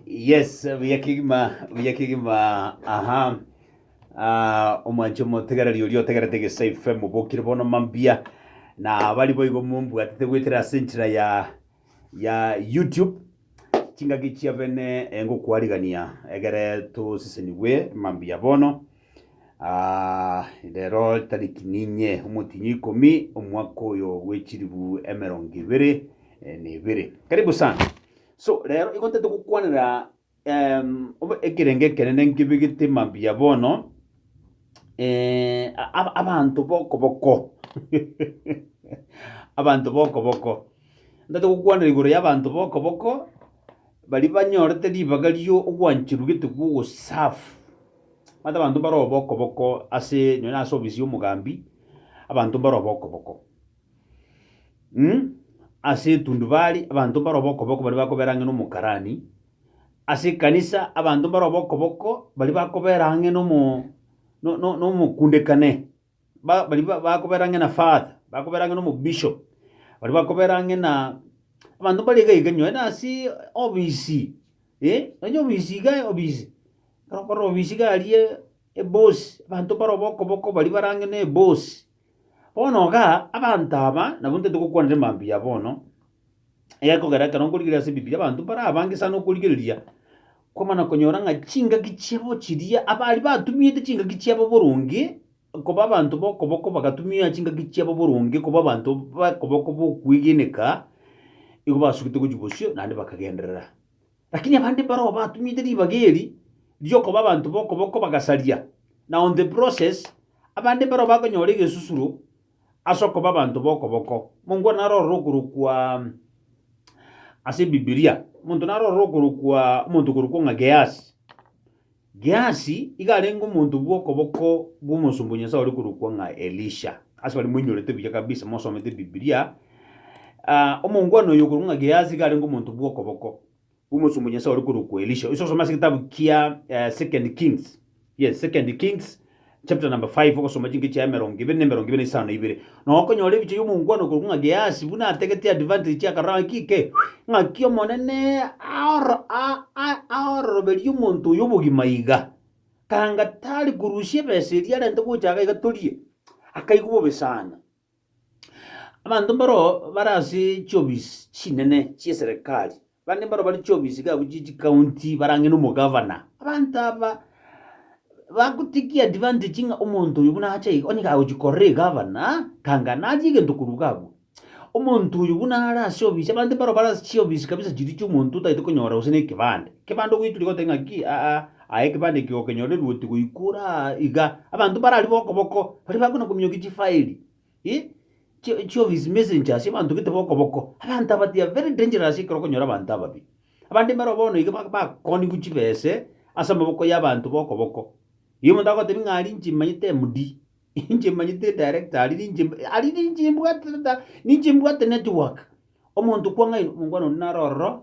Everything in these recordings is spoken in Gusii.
Yes, buya kigima, buya kigima. Aha. Ah, omwancho omotegereri oria otegerete Gese FM mobokire bono mambia. Na bari boigo mombwatete gwetera ase enchera ya ya YouTube. Chingaki chia bene engokwariganĩa egere tosisenigwe mambia bono. Aa, rero tariki ninye omotinyi ikomi omwaka oyo gw'echiribu emerongo ibere eh, na ibere. Karibu sana. So rero igo ntete gokwanera em, obe- ekerenge ekenene nkebegete mambia bono eh, ab- abanto bokoboko abanto bokoboko ntete gokwanera igoro y'abanto bokoboko baria banyorete ribaga ri'ogwancherwa gete gw'ogoserve Omanyete abanto mbare oboko boko ase nonya ase obisi y'omogambi, abanto mbare oboko boko. Ase etundubari abanto mbare oboko boko baria bakobera ang'e na omokarani, ase ekanisa abanto mbare oboko boko baria bakobera ang'e na omo na omokundekane. ba- baria ba- bakobera ang'e na father, bakobera ang'e na omobishop, baria bakobera ang'e na abanto mbare iga iga nonye nase obisi, eh, nonye obisi iga obisi, ekero okorora obisi iga aria eboss, abanto mbare obokoboko baria bare ang'e na eboss. Bono igaa, abanto aba, nabo ntotete gokwanera emambia bono, egekogera ekero nkorigereria ase Ebibilia abanto mbare abange sana okorigereria, kwamana konyora ng'a chingaki chiabo chiria abaaria batumiete chingaki chiabo boronge, koba abanto ba okoboko bagatumia chingaki chiabo boronge koba abanto ba okoboko ba okwegeneka, igo basugete gochia bosio naende bakagenderera. Lakini abande mbare oo batumiete ribaga eri riokoba abanto ba okoboko bagasaria, na on the process, abande mbare oo bakonyora egesusuro. ase okoba abanto b'okoboko. Mongwana naro ororo okorokwa ase Bibilia, omonto naro ororo okorokwa omonto okorokwa ng'a Gehasi. Gehasi iga arenge omonto bw'okoboko bw'omosomba o Nyasae ore korokwa ng'a Elisha. Ase baria moinyorete buya kabisa mosomete Bibilia, ah, omongwana oyo okorokwa ng'a Gehasi iga arenge omonto bw'okoboko. Omosomba o Nyasae ore korokwa Elisha. Oise osome ase egetabu kia Second Kings, yes, Second Kings chapter number five, ogosoma chinkechi yaye emerongo ebere na emerongo ebere na isano na ibere, na okonyora ebichwa y'omongwana okorokwa ng'a Gehasi buna ategetie advantage chia akarora ng'a ki ke, ng'aki Omonene aoro- a- a- aororoberie omonto oyo obogima iga, kanga tari korusia ebesa eria arente gocha iga torie, akaigwa bobe sana. Abanto mbaroo bare ase chiofisi chinene chi'eserekari, bande mbaroo bare chiofisi iga abwo chie chikaunti barang'e na omogavana. Abanto aba bagotakia advantage ng'a omonto oyo buna acha iga onye kagochi korora egavana aa, tanga naria egento korwa iga abwo. Omonto oyo buna are ase ofisi abande mbaroo bare ase chiofisi kabisa chiria chi'omonto otagete konyora gose na ekebande. Ekebande ogoiturigwa oteba ng'aki aa. Aye ekebande eke gokenyorerwe oti goikora aa iga, abanto mbarari bokoboko baria bakona kominyokia chifaeli, eh, chi- chioffice messengers, abanto gete bokoboko. Abanto aba they are very dangerous ekero okonyora abanto ababe. Abande mbaro bono iga ba- bakooniwu chibese ase amaboko ya abanto bokoboko. Igo omonto agotebi ng'a aria inche manyete MD, inche manyete edirector aria ninche mb- aria ninche mbwate reta ninche mbwate network. Omonto kwang'aini, omongwana oria naro ororo.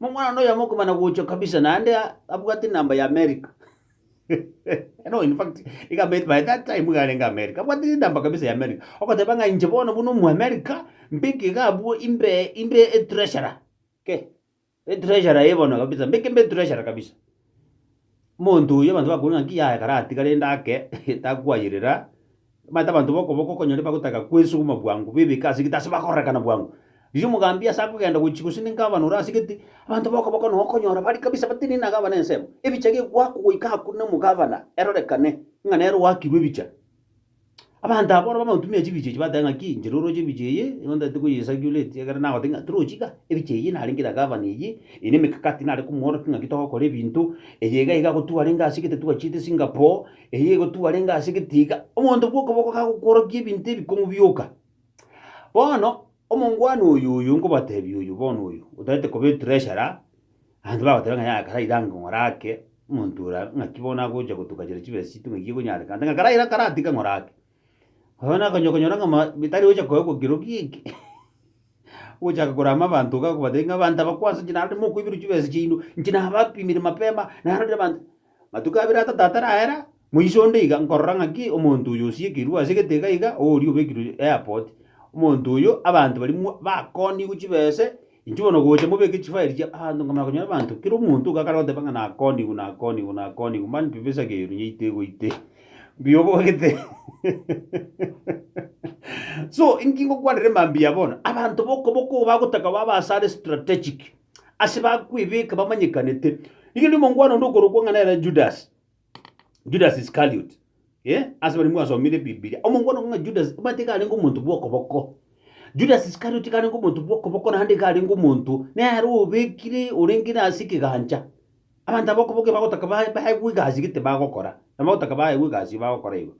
Omwana one oyomo okomana gocha kabisa naende a- abwate enamba ya America. No, in fact, iga America, by that time iga arenge America. Abwate enamba kabisa ya America. Ogoteba ng'a inche bono buna Omoamerica, mbeke iga abwo imbe imbe etreasurer. Ke, etreasurer eye bono kabisa, mbeke mbe etreasurer kabisa. Omonto oyio abanto bakoboria ng'a 'Nki yaye kare atiga rende ake takwayerera? Omanyete abanto b'okoboko okonyora bagotaka kwesuguma bwango, bebeke ase egati ase bakorerekana bwango. Riria omogambi ase akogenda gochia gose ninka abanora ase egati, abanto b'okoboko nao okonyora baria kabisa batenene na gavana ensemo. Ebicha gegoakwa goika akwo na omogavana, erorekane ng'a nere oakirwe ebicha. Abanto abwo bono bamotumia chibicho echi bateba ng'aki, inche roroche ebicho eye, igo ntaete koyesacurate ekiagera nagoteba ng'a tirochi iga, ebicho eyio narenge na gavana eyio, eye nemekakati nare komworokia ng'aki togokora ebinto, eye iga iga agotwa arenge ase egete twachiete singapore, eye egotwa arenge ase egete iga, omonto bwoka boka kagokworokia ebinto ebikong'u bioka. Bono, omongwana oyoyo nkobatebia oyo bono oyo, otaete koba etreasurer, Abanto bagoteba ng'a yaya karaire ango ng'ora ake, omonto ora ng'aki bono agocha gotuka chire chibesa chiaito ng'aki ekonyarekana, ande ng'a karaire karatige ng'ora ake. Oyo nabo okonyora okonyora ng'a ma- bitari gocha koegwa kiro giki, ogochaka korama abanto iga okobatebia ng'a abanto aba kwanza inche narorire mokoiberwa chibesa chiaino, inche nabapimire mapema, narorire abanto. Matuko abere atato ataraera, Moiso onde iga nkorora ng'aki omonto oyo osiekerwe ase egetega iga, oria obekirwe airport, omonto oyo abanto baria bakoonigwe chibese, inchuo bono gocha mobeke chifaeli chia abanto nkamanya konyora abanto kera omonto iga akare goteba ng'a nakoonigwe nakoonigwe nakoonigwe mani pi besa keru nyeite goite mbuya obwagete So inki ngokwanera emambia eye bono, abanto bokoboko obo bagotaka babe asare strategic, ase bakwebeka bamanyekanete. Rigereria omongwana onde okorokwa ng'a nere Judas. Judas Iscariot. Eh, ase baria mwasomire Bibilia. Omongwana ng'a Judas, omanyete iga arenge omonto bw'okoboko. Judas Iscariot iga arenge omonto bw'okoboko naende iga arenge omonto nere obekire orenge na ase ekegancha. Abanto aba okoboko ebagotaka ba- baegwe egasi gete bagokora, ebagotaka baegwe egasi eye bagokora igo.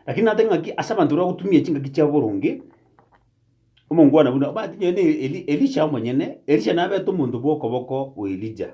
Lakini nateba ng'aki ase abanto baria bagotumia chingaki chiabo boronge, omongwana buna, omanyete nonya na Eli- Elisha omonyene, Elisha nabete omonto bw'okoboko o Elija.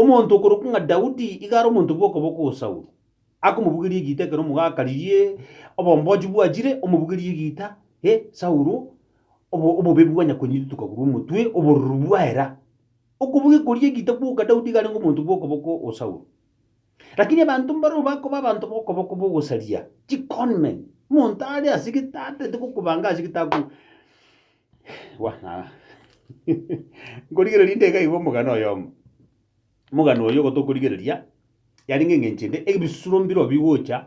Omonto okorokwa ng'a Daudi iga are omonto bw'okoboko o Saulo, akomobugeria egiita ekero omogaka riria obombochi bwachire, omobugerie egiita, e Saulo, obo- obobebi bwa nyakonyiti tokagurwa omotwe, obororo bwaye ra. Okobugia koria egiita gwoka Daudi iga arenge omonto bw'okoboko o Saulo. Lakini abanto mbarabwo bakoba abanto b'okoboko b'ogosaria, chiconmen, omonto are ase gete atareti gokobanga ase gete ako. Bwana, nkorigereria inde iga iga omogani oyomo. Omogani oyio igo tokorigereria, yarenge eng'encho ende, ebisuro mbirobio bigocha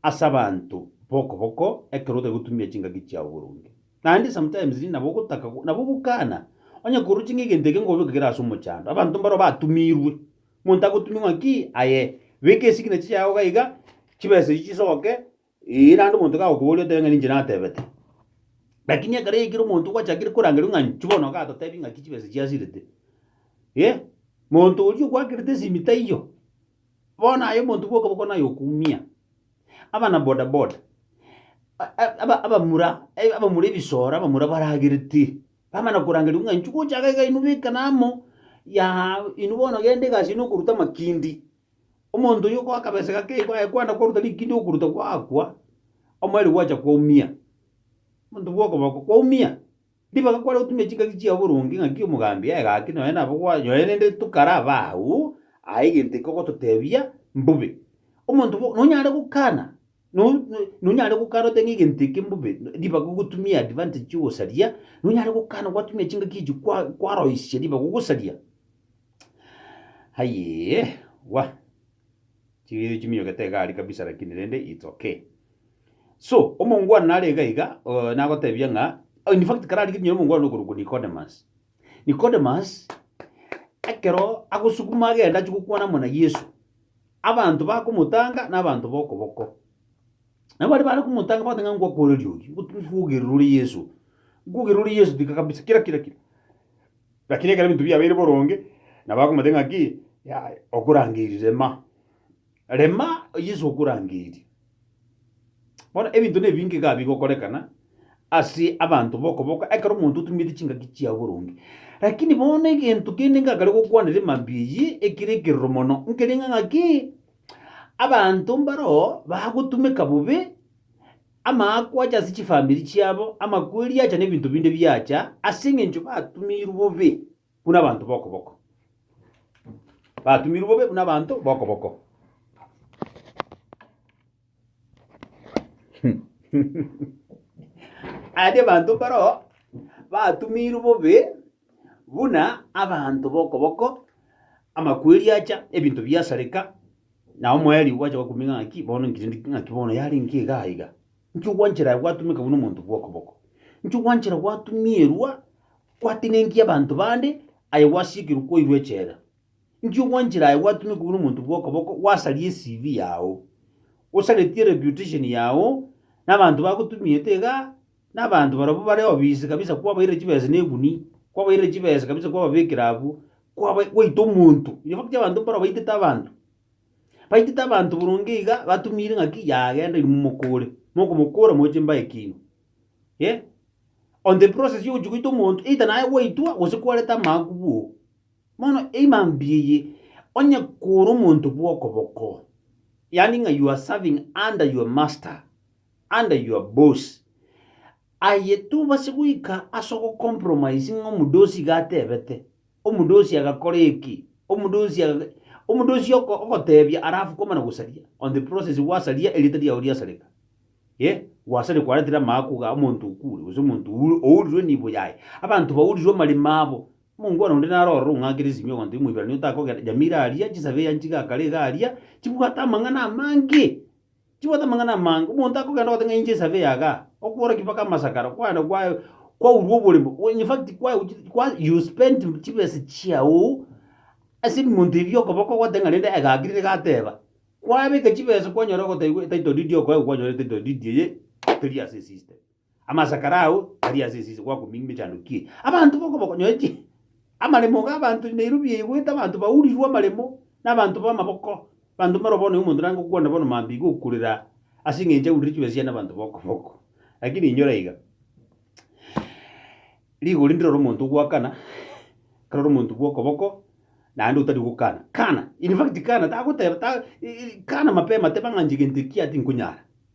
ase abanto boko boko ekero otari gotumia chingaki chiao boronge. Naende sometimes rinde nabo ogotaka go- nabo ogokana onye koroche ng'a egento eke nkobeke kere ase omochando, abanto mbaro batumirwe, omonto agotumia ng'a ki, aye beka esignature yao iga iga, chibesa echi chisoke, Ee, naende omonto kagokoboria otebe ng'a ninche natebete. Lakini ekero yaikire omonto ogwachakire korangeria ng'a inche bono iga totebi ng'aki chibesa chiasirete. Eh, monto oria ogwakerete esimi taiyo. Bono aye omonto bwoka boko naye okumia. Abana boda boda, a- a- aba- abamura, eh, abamura ebisoro, abamura baragerete, bamana korangeria ng'a inchuko ochaga iga inwe beka namo, yahaa, inwe bono genda egasi ino okoruta amakindi. Omonto oyio okoa akabesa gake igo aye kwana koruta rikindi okoruta gwakwa, omoerio gwacha kwaumia. Monto bw'okoboko kwaumia, ribaga kware gotumia chingaki chiao boronge ng'aki omogambi aye gaki nonye nabo kwa nonye rende tokare abao, aye egento ekio ogototebia mbobe. Omonto bwo nonyare gokana. No- no- nonyare gokana oteba ng'a egento eke mbobe ribaga ogotumia advantage y'ogosaria, nonyare gokana gwatumia chingaki echio kwa- kwaroisia ribaga ogosaria. Ayeeya, wa, chibiato chiminyogete iga aria kabisa lakini rende it's okay. So, omongwana nare iga iga nagotebia ng'a, infact kare arenge nonye omongwana okorokwa Nicodemus, Nikodemus, ekero agosukuma agende achie gokwana amo na Yeso, abanto bakomotanga na abanto b'okoboko. Nabo baria bare komotanga bagoteba ng'a nkwakoreria oyio, ngot- nkwogerera ore Yeso, nkwogerera ore Yeso tika kabisa, kira kira kira. Lakini ekero ebinto biabeire boronge, nabo bakomotebia ng'a ki, yaya, okorangeirire ma. Rema Yesu okorangeria. Bono ebinto nebinge iga bigokorekana ase abanto b'okoboko ekero omonto otunyomete chingaki chiao boronge. Lakini bono egento kende ngakare gokwanera emambia eyio ekere ekeroro mono, nkerenge ng'aki abanto mbaro bagotumeka bobe, amaako ache ase chifamiri chiabo, amakweri acha na ebinto binde biacha ase eng'encho batumirwe bobe. buna abanto b'okoboko, batumirwe bobe buna abanto b'okoboko. Aya n'abanto mbaroo batumirwe bobe buna abanto b'okoboko, amakweri acha, ebinto biasareka, na omoerio gwacha gwakumia ng'a ng'aki bono nkire ndi- ng'aki bono yarenge iga iga. Inki ogwanchera aye gwatumeka buna omonto bw'okoboko? Inki ogwanchera gwatumierwa gwatenenkia abanto bande, aye gwasiikirwe kwairwa echela? Inki ogwanchera aye gwatumeka buna omonto bw'okoboko gwasaria eCV yao, gosaretie reputation yao nabanto bagotumiete iga, nabanto barabwo bare obisi kabisa kwabairire chibesa na egunia, kwabairire chibesa kabisa kwababekera abwo, kwaba gwaita omonto. In fact, abanto mbare obaitete abanto, Baitete abanto boronge iga batumire ng'aki yagenda inwe mokore, mokomokora moe chimbae ekiagera eh, on the process yogochia goita omonto either naye gwaitwa gose kwarete amaakwa bwoka. Bono emambia eye, onye kore omonto bw'okoboko, yaani ng'a you are serving under your master, under your boss, aye tobasa goika ase ogocompromise ng'a omodosi iga atebete. Omodosi agakora eki, omodosi aga, omodosi oko- ogotebia arafu koma na gosaria, on the process gwasaria erieta riao riasareka. Eh, gwasare kwaretire amaakwa iga omonto okure, gose omonto oure- ourirwe nibo yaye. Abanto baurirwe amaremo abo. Omongwana onde naro ororo ong'akire esimi ogontebia Omoibrania otakogenda, Jamira aria, chisabei anchiga akare iga aria, chibwate amang'ana amange. Chibwate amang'ana amange. Omonto akogenda ogoteba ng'a inche esabe yaga, okworokia mpaka amasakara, kwagenda kwaye kwaurwa oboremo. O- In fact, kwaye gochi- kwa you spent chibesa chiago ase ebimonto ebi okoboko ogoteba ng'a rende egaki rire gateba. Kwabeka chibesa kwanyora ogotebigwa etitle deed okoegwa kwanyora etitle deed eye teri ase esystem. Amasakara ao aria ase esisi gwakomingia emechando ki abanto b'okoboko nonye chi amaremo g'abanto na eirubia yaigwete abanto baurirwe amaremo na abanto b'amaboko, abanto mbaro bono omonto naye ngokwana bono mambia iga okurera ase eng'encho aurire chibesa chiane na abanto b'okoboko. Lakini inyora iga, rigori ndirore omonto ogwakana ekero ore omonto bw'okoboko naende otari gokana. Kana, in fact kana tagoteba ta i- i kana mapema teba ng'a inche egento ekio atinkonyara.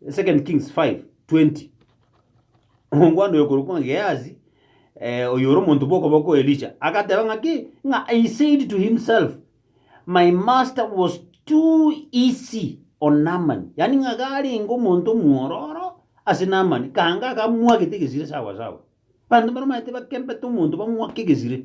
2 Kings 5, 20 Omwana oyokorokwa ng'a Gehazi, eh, oyore omonto bw'okoboko o Elisha, agateba ng'a ki? Ng'a he said to himself, My master was too easy on Naaman. Yani ng'a garenge omonto omwororo ase Naaman, kanga akamwagete egesire sawa sawa. Banto baramaete bakembete omonto bamwake egesire.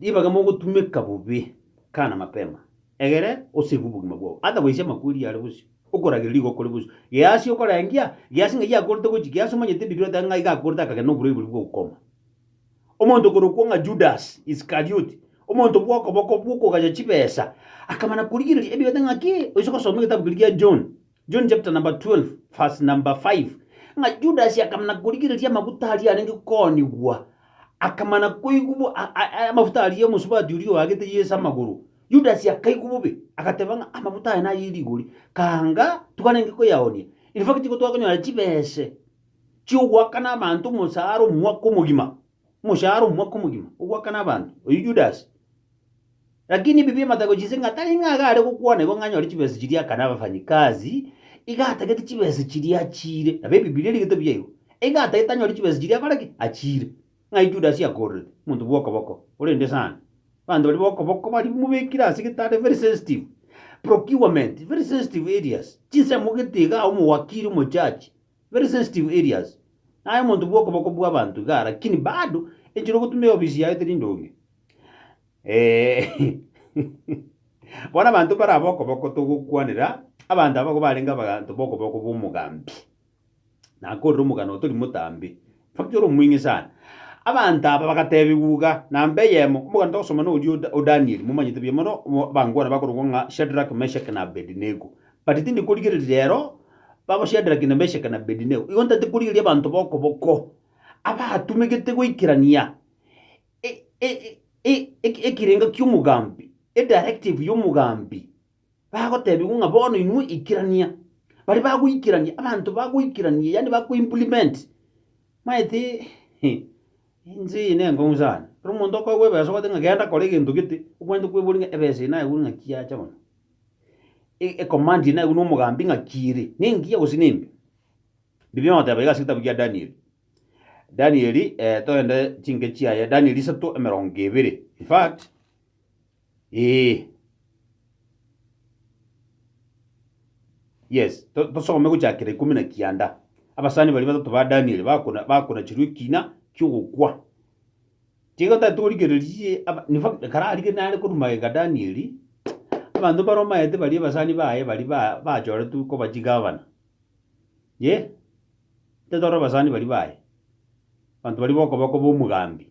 Ribaga mogotumeka bobe, kana mapema, egere osegwe obogima bwao, atabaisia amakweri are bosio, okoragereria igo okore bosio. Geasi okorengia, geasi ng'ai akorete gochia, geasi omanyete ebirirwe atange ng'ai iga akorete akagenda noborwaire boria bwa ukoma. Omonto okorokwa ng'a Judas Iskarioti, omonto bw'okoboko bw'okogacha chibesa, akamana korigereria ebiatange ng'a ki? Oise gosoma egetambu keria gia John. John chapter number 12 verse number 5 ng'a Judasi akamana korigereria amaguta aria arenge koonigwa, akamana koigwa bo- a- a- a- amafuta aria omosubati oria oagete Yeso amagoro. Judasi akaigwa bobe, agateba ng'a amafuta aya naye rigori, kaanga twarenge koyaoonia. In fact, igo twakonyora chibese chiogoakana abanto omosaara omwaka omogima. omoshahara omwaka omogima ogoakana abanto, oyio Judasi. Lakini ebi bi'amatako chinse ng'a tari ng'a iga are gokwana igo ng'a anyore chibesa chiria akane abafanyikazi, iga atagete chibesa chiria achiire. Nabo Ebibilia erigete buya igo, iga atagete anyore chibesa chiria akore ki? Achiire. Ng'ai Judasi akoororete? Omonto bw'okoboko, orende sana. Abanto baria b'okoboko baria mobekire ase egetanda very sensitive. Procurement, very sensitive areas. Chinsemo gete igaa omowakiri, omojaji, Very sensitive areas. Naye omonto bwokoboko bwabanto igaa lakini bado enchera ogotunda eofisi yaye teri ndonge. Eeh. Bono abanto bare abokoboko togokwanera abanto abwo barenge abanto bokoboko bwomogambi. Nakorire omogano oyo tori motambe. Omochie ore omong'e sana. Abanto aba bagateebigwa iga, Namba eyemo, omoganto togosoma noria o Danieli, momanyete buya mono, abangwana bakorokwa ng'a Shadraki, Meshaki, na Abedinego. But tindi korigereria rero, babo Shadraki, na Meshaki, na Abedinego, igo ntati korigereria abanto b'okoboko, abaatumegete goikerania ekerengo ki'omogambi, edirective y'omogambi. bagotebigwa ng'a bono inwe ikerania, baria bagoikerania, abanto bagoikerania yaani bakoimplement, maete ense eye nenkong'u sana. Kera omonto okoegwa ebeeso ogote ng'a genda kora egento gete, obwenerete kweboria ng'a ebeeso eye nayegwire ng'a ki yacha bono? E- ecommand eye nayegwire na omogambi ng'a ki ere, nengiya gose nembe? Bibe ogoteba iga ase egetabu kia Danieli, Danieli togende chinke chiaye, Danieli isato emerongo ebere, infact. Ee. Yes, to- tosome gochakera ikomi na kianda. Abasani baria batato ba Danieli bakona- bakonachirwe ekina ki'ogokwa. Tiga tati origererie aba- in fact ekero arige nare korwa magega Danieli, abanto mbare omanyete baria abasani baye baria ba- bachoretwe koba chigavana. Yea, tiga tore abasani baria baye, abanto baria bokoba koba omogambi,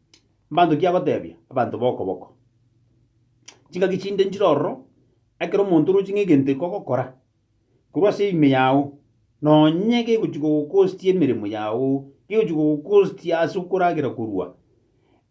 Mbanto ki agotebia? Abanto b'okoboko. Chingaki chinde nchire ororo, ekero omonto oroche ng'a egento eke ogokora, korwa ase ime yao, nonye gegochi kogokostia emeremo yao, gegochi kogokostia ase okoragera korwa,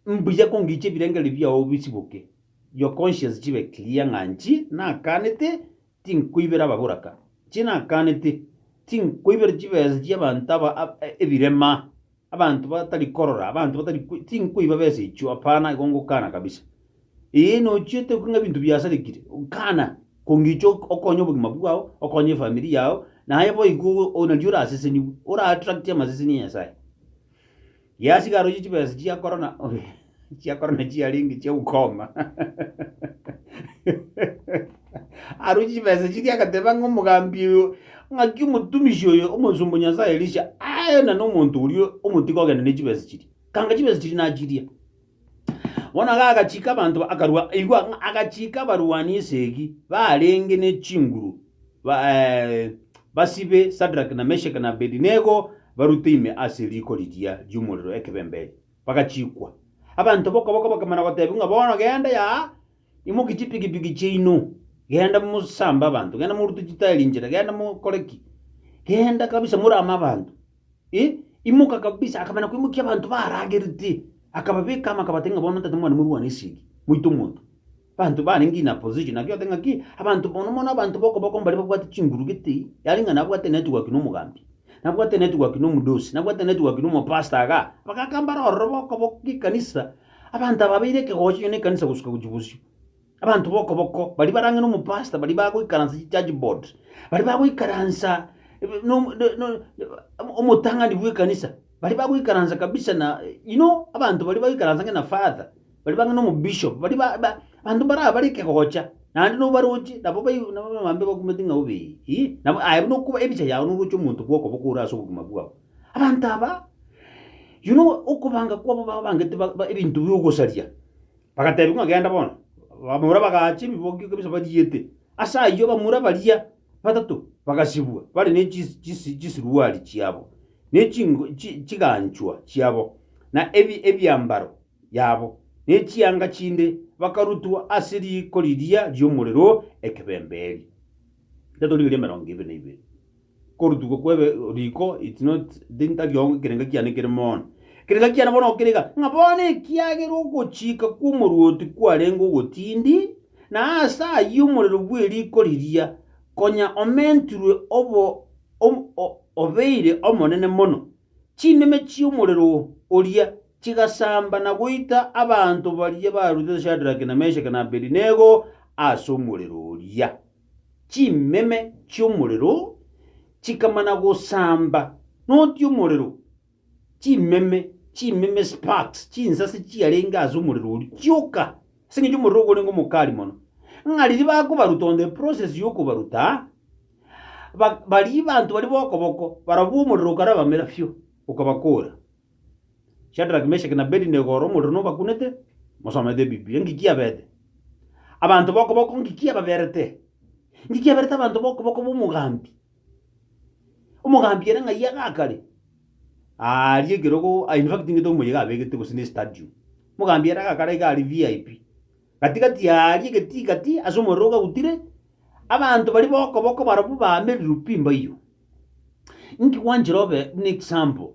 mbuya kongiche ebirengererio biao bisiboke, your conscience chibe clear ng'a nchi nakaanete, tinkoibera ababoraka, nchi nakaanete, tinkoibera chibesa chi'abanto aba ab- ebirema. abanto batari korora, abanto batari koi tinkoiba besa echio, hapana, igo ngokana kabisa. Ee, nochiete okong'a ebinto biasarekire, kana, kongicha ok- okonye obogima bwao, okonye efamiri yao, naye boigo ogo o- nario orasesenigwe, ora-attract amaseseni a Nyasaye. Yasiga aroche chibesa chiakora na. chia korona chiarenge chia ukoma aru chibesa chiria agateba ng'a omogambi oyo ng'aki omotumishi oyo omosomba nyasaye elisha aena nomonto oria omotiga ogenda ne chibesa chiria kanga chibesa chiria nachiria bono iga agachika abanto ba- akarwa igwa ng'a agachika abarwani esegi barenge ne chinguru ba basibe sadrack na meshak na abedinego barute ime ase riko riria riomorero ekebembe erio bagachiikwa. Abanto b'okoboko bakamana goteebia ng'a, Bono genda yaa, imokie chipigipigi chiaino, genda mosambe abanto, genda morute chitaeri inchera, genda mokore ki, genda kabisa morame abanto. Eh, imoka kabisa, akamana koimokia abanto baaragerete, akababeka amo akabatebia ng'a, Bono ntaete mwane morwane esegi, moite omonto. Abanto barenge in a position naki ote ng'aki abanto mono mono abanto bokoboko mbaria babwate chinguru gete yaani ng'a nabwate network na omogambi nabwate network na omodosi nabwate network na omopastor igaa abagaka mbare ororo bokoboko gekanisa abanto aba babeire ekegocho inwe na ekanisa gosuka gochia bosio abanto bokoboko baria barang'e na omopastor baria bagoikaransa chichurch board baria bagoikaransa na omo na na omotang'ani bw'ekanisa baria bagoikaransa kabisa na you know abanto baria bagoikaransa ng'a na father baria bang'e nomobishop, baria ba ba abanto mbaria bare ekegocha, naende nobaroche nabo bai nabo abambe bakumete ng'a obe ii, nabo aye buna okoba ebicha yao noroche omonto bwokoba kore ase obogima bwao. Abanto aba, you know okobanga kwabo babangete ba ba ebinto bia ogosaria, bagatebiwa ng'a genda bono, bamura bagacha ebiboki ekebisa bariete, ase ayio bamura baria batato bagasibwa bare ne chis chisi chisiruari chiabo, ne chingo chi chiganchwa chiabo, na ebi ebiambaro. yabo, ne chianga chinde bakarutwa ase riiko riria ri'omorero ekebemberi. Ntatorigereria emerongo ebe na ibere. Korutwa kw'ebe riiko it's not ntakio ekerenga kiane kere mono. Ekerenga kiane bono okerega ng'a bono ekiagera ogochika kw'omorwoti kwarenge ogotindi, na ase ayio omorero bw'eriiko riria konya omentirwe obo obeire omonene mono, chimeme chi'omorero oria chigasamba na goita abanto baria barutetwe Shadrake na Meshake na Abedinego ase omorero oria. Chimeme chi'omorero chikamana gosamba noti omorero, chimeme, chimeme, sparks, chinsase chiarenge ase omorero oria chioka, ase engencho omorero ogorenge omokali mono. Ng'a riria bakobaruta on the process y'okobaruta, ba- baria banto baria bokoboko, barobwo omorero okarabamera fiu, okabakoora. Shadraki, Meshaki, na Abedinego ore omorero nobakunete, mosomete Ebibilia. Nki kiabete abanto b'okoboko? Nki kiababerete? Nki kiaberete abanto b'okoboko b'omogambi? Omogambi ere ng'ai iga akare? Aaria ekerogo, ah, in fact ng'ite omoyega abegete gose ne stadium. Omogambi ere agakara iga aria VIP. Gati gati aaria egetii gati ase omorero ogagutire, abanto baria b'okoboko barabwo baamererwe pi mbaiyo. Nki gwanchire obe buna example?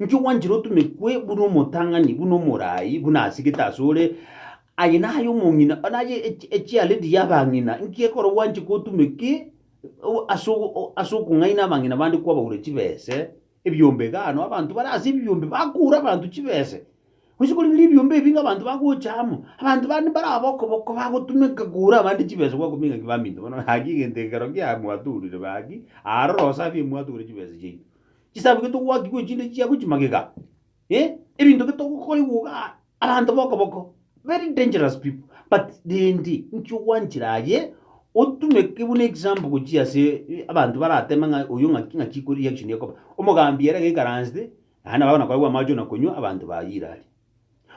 Inki gwanchire otumekwe buna omotang'ani, buna omoraai, buna asegete asore? Aye naye omong'ina, naye echialedi y'abang'ina. Inki ekero gwanche gotumeke ase okong'aina abang'ina bande kwabaura chibese, ebiombe egano, abanto bare ase ebiombe bakoura abanto chibese. Gose korigiria ebiombe ebi abanto bagocha amo, abanto bande mbare abokoboko bagotumeka koura abande chibese gwakobua ng'a ki baminto bono, gaki egento ekero kia mwatourire gaki, aroro safi mwatoure chibese chiaito. chisabu getogwakigwa echinde chiago chimagega, eh, ebinto getogokorigwa iga aa, abanto bokoboko, very dangerous people, but rende inki ogwanchera aye, otumeke buna example gochia ase eh, abanto barateme ng'a oyo ng'aki ng'aki ko reaction ekoba, omogambi ere gaikaransete, naende nabo bagonakorera bw'amache onakonywa, abanto bayire aria.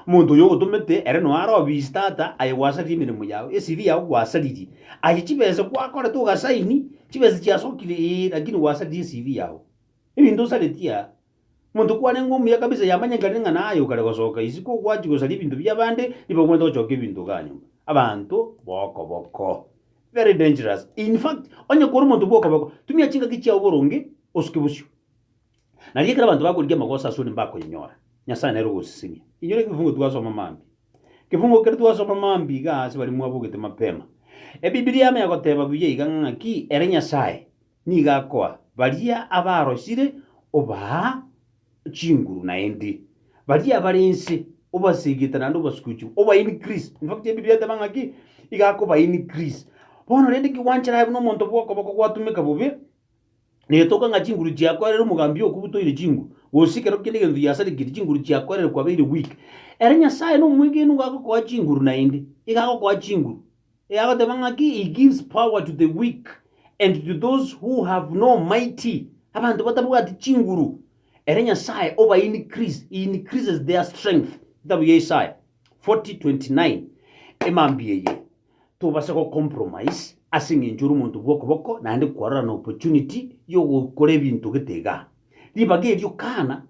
Omonto oyio ogotomete ere noyo are obisi tata aye gwasaririe emeremo yao, esiri yao gwasaririe. Aye chibesa gwakorete ogasaini, chibesa chiasokire ee, lakini gwasaririe esiri yao. Ebinto osareti aa. Omonto kwarenge omuya kabisa yamanyekanire ng'a naye okare gosoka isiko ogwachia gosaria ebinto biabande nigo omanyete ogochoka ebinto igaa nyomba. Abanto bokoboko. Very dangerous. In fact, onye kore omonto bwokoboko, tumia chingaki chiao boronge, osuke bosio. Nari ekero abanto bakorigia amagoso asore mbakoyenyora, Nyasae nere ogosisinia. Inyora ekefungo twasoma mambia. Ekefungo kere twasoma mambia igaa ase baria mwabogete mapema. Ebibilia yamo egoteba buya iga ng'aki ere Nyasae nigo akoa baria abarosire obaa chinguru naende baria abare inse obasegete naende obasuguchigu obae increase. In fact Ebibilia eteba ng'aki iga akobae increase. Bono rende ki gwanchera aye buna omonto bw'okoboko gwatumeka bobe Negetoka ng'a chinguru chiakoerire omogambi okwo butoire chinguru, gose kero kende egento giasarigeti, chinguru chiakoerire kwabeire weak. Ere Nyasaye nomwegeni nigo agokoa chinguru naende, iga agokoa chinguru. Iga agoteba ng'aki, He gives power to the weak, and to those who have no mighty, abanto batabwati chinguru, ere Nyasae oba increase, he increases their strength. Egetabu gia Isaya 40:29, emambia eye. tobasa go compromise ase eng'encho ore omonto bw'okoboko naende kwarora na opportunity y'ogokora ebinto gete igaa. Ribaga erio kana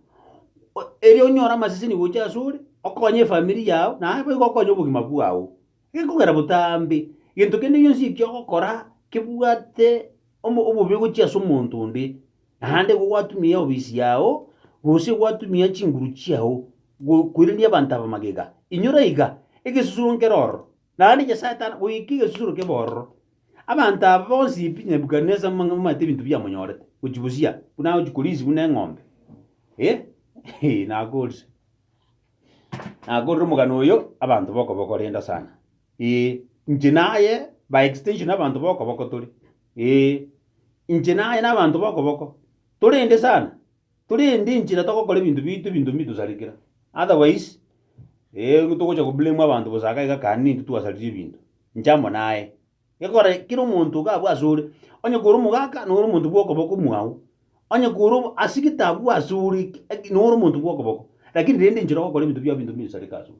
o- erio onyore amaseseni gocha ase ore, okonye efamiri yao, naye boigo okonye obogima bwao, gekogera botambe. Gento kende gionsi ekio ogokora kebwate omo obobe gochia ase omonto onde, naende igo gwatumia ofisi yao, gose gwatumia chinguru chiao, go- koirania abanto aba magega, inyora iga, egesusuro nkere ororo. Naende Nyasae tana goika egesusuro ki'ebororo. Abanto aba bonsi pi Nebukadnesa momanyete ebinto biamonyorete, gochia bosio buna agochia korisia buna eng'ombe. Eh, eh, nakoorire. Nakoorire omogano oyo abanto b'okoboko renda sana. Eh, inche naye by extension abanto b'okoboko tore. Eh, inche naye na abanto b'okoboko torende sana. Korende inchera togokora ebinto biaito ebinto mbi tosarikera. Otherwise eh togocha go blame abanto bosa iga iga kare nintwe twasaririe ebinto. Inche amo naye. Gekogera kera omonto iga abwo asore, onye kore omogaka noro omonto bwa okoboko mwao, onye kore obo ase gete abwo asore noro omonto bwa okoboko, lakini rende inchera ogokora ebinto biao ebinto mbi osareke asore.